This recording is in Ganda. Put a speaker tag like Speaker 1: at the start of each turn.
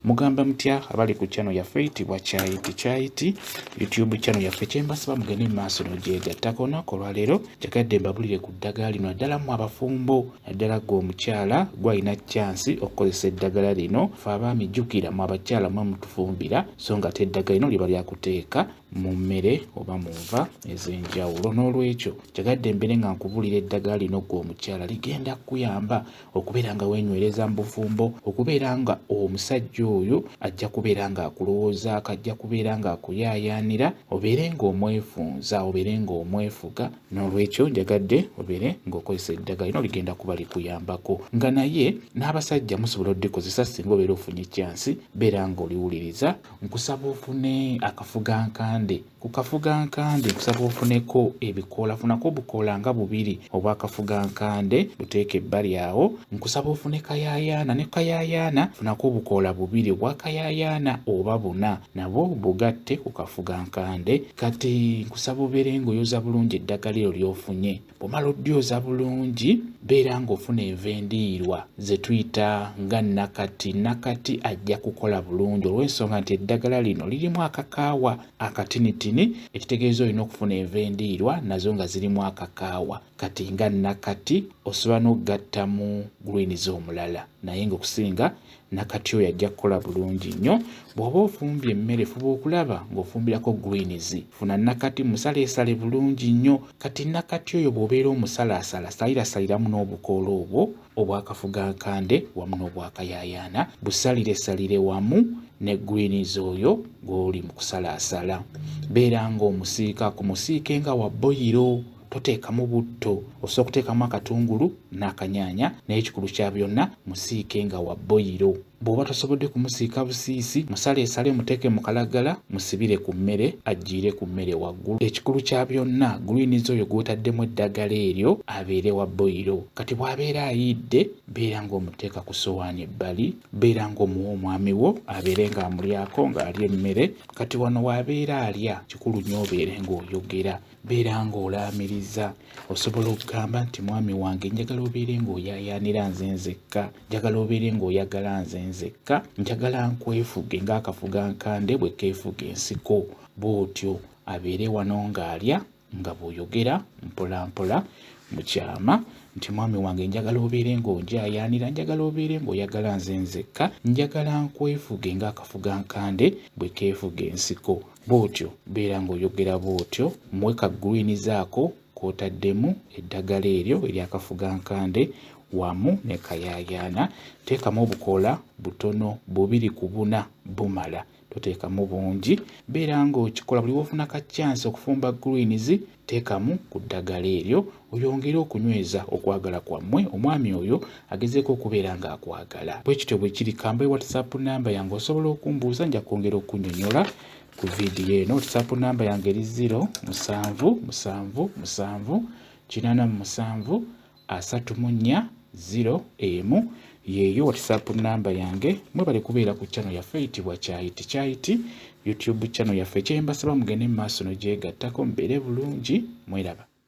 Speaker 1: mugamba mutya abali ku channel yaffe eyitibwa kyayiti kyayiti youtube channel yaffe kyembasaba mugende mu maaso nogyegattako olunaku olwaleero kyagadde mbabulire ku ddagala lino naddala mu abafumbo naddala gwe omukyala gwalina kyansi okukozesa eddagala lino fe abaami jjukira mu abakyala mwe mutufumbira so nga te eddagala lino liba lyakuteeka mu mmere oba mu nva ez'enjawulo n'olwekyo kyagadde mbere nga nkubuulira eddagala lino ggwe omukyala ligenda kukuyamba okubeera nga weenywereza mu bufumbo okubeera nga omusajja oyo ajja kubeera ng'akulowoozaako ajja kubeera ng'akuyaayaanira obeere ng'omwefunza obeere ng'omwefuga n'olwekyo njagadde obeere ng'okozesa eddagala lino ligenda kuba likuyambako nga naye n'abasajja musobola odikozesa singa obeera ofunye kyansi beera ng'oliwuliriza nkusaba ofune akafuga nkande ku kafuga nkande nkusaba ofuneko ebikoola funako obukoola nga bubiri obwakafuga nkande buteeke ebbali awo nkusaba ofune kayayaana ne kayayaana funako obukoola bubiri obwakayayaana oba buna nabo bugatte ku kafuga nkande kati nkusaba obeere ngaoyoza bulungi eddagala eryo lyofunye bwomala oddyoza bulungi beera ng'ofuna enva endiirwa ze tuyita nga nakati nakati ajja kukola bulungi olw'ensonga nti eddagala lino lirimu akakaawa akatinitini ekitegeeza olina okufuna enva endiirwa nazo nga zirimu akakaawa kati nga nakati osobola n'okugattamu gulwiniza omulala naye ng'okusinga nakati oyo ajja kukola bulungi nnyo bw'oba ofumbye emmere fuba okulaba ng'ofumbirako greens funa nakati musaleesale bulungi nnyo kati nakati oyo bw'obeera omusalaasala salirasaliramu n'obukoola obwo obwakafuga nkande wamu n'obwakayayaana busaliresalire wamu ne greens oyo gw'oli mu kusalaasala beera ng'omusiika ku musiike nga wa boyiro toteekamu butto osobola okuteekamu akatungulu n'akanyaanya naye ekikulu kya byonna musiike nga wa boyiro bw'oba tosobodde kumusiika busiisi musale esale muteeke mu kalagala musibire ku mmere ajjiire ku mmere waggulu ekikulu kya byonna gulwiniza oyo gw'otaddemu eddagala eryo abeere wa boyiro kati bw'abeera ayidde beera ng'omuteeka ku sowaani ebbali beera ng'omuwa omwami wo abeere ng'amulyako ng'alya emmere kati wano w'abeera alya kikulu nnyo obeere ng'oyogera beera ng'olaamiriza osobola okugamba nti mwami wange njagala obeere ng'oyaayaanira nze nzekka njagala obeere ng'oyagala nze nzekka njagala nkwefuge ng'akafuga nkande bwe keefuga ensiko bw'otyo abeere wano ng'alya nga bw'oyogera mpolampola mu kyama nti mwami wange njagala obeere ng'onjaayaanira njagala obeere ng'oyagala nze nzekka njagala nkwefuge ng'akafuga nkande bwe keefuga ensiko bw'otyo beera ng'oyogera bw'otyo muwe ka green zaako k'otaddemu eddagala eryo eryakafuga nkande wamu ne kayaayaana teekamu obukoola butono bubiri ku buna bumala toteekamu bungi beera ng'okikola buli wofuna ka chance okufumba greens Teekamu ku ddagala eryo oyongere okunyweza okwagala kwammwe omwami oyo agezeeko okubeera ng'akwagala. Bwe kityo bwe kiri kamba e WhatsApp nnamba yange osobola okumbuuza nja kwongera okunyonyola ku vidiyo eno. WhatsApp nnamba yange eri ziro musanvu musanvu musanvu kinaana mu musanvu asatu mu nnya ziro emu yeeyo whatsapp namba yange mwebale kubeera ku channel yaffe eyitibwa kyayiti kyayiti youtube channel yaffe kyembasaba mugende mu maaso nogyegattako mbeere bulungi mweraba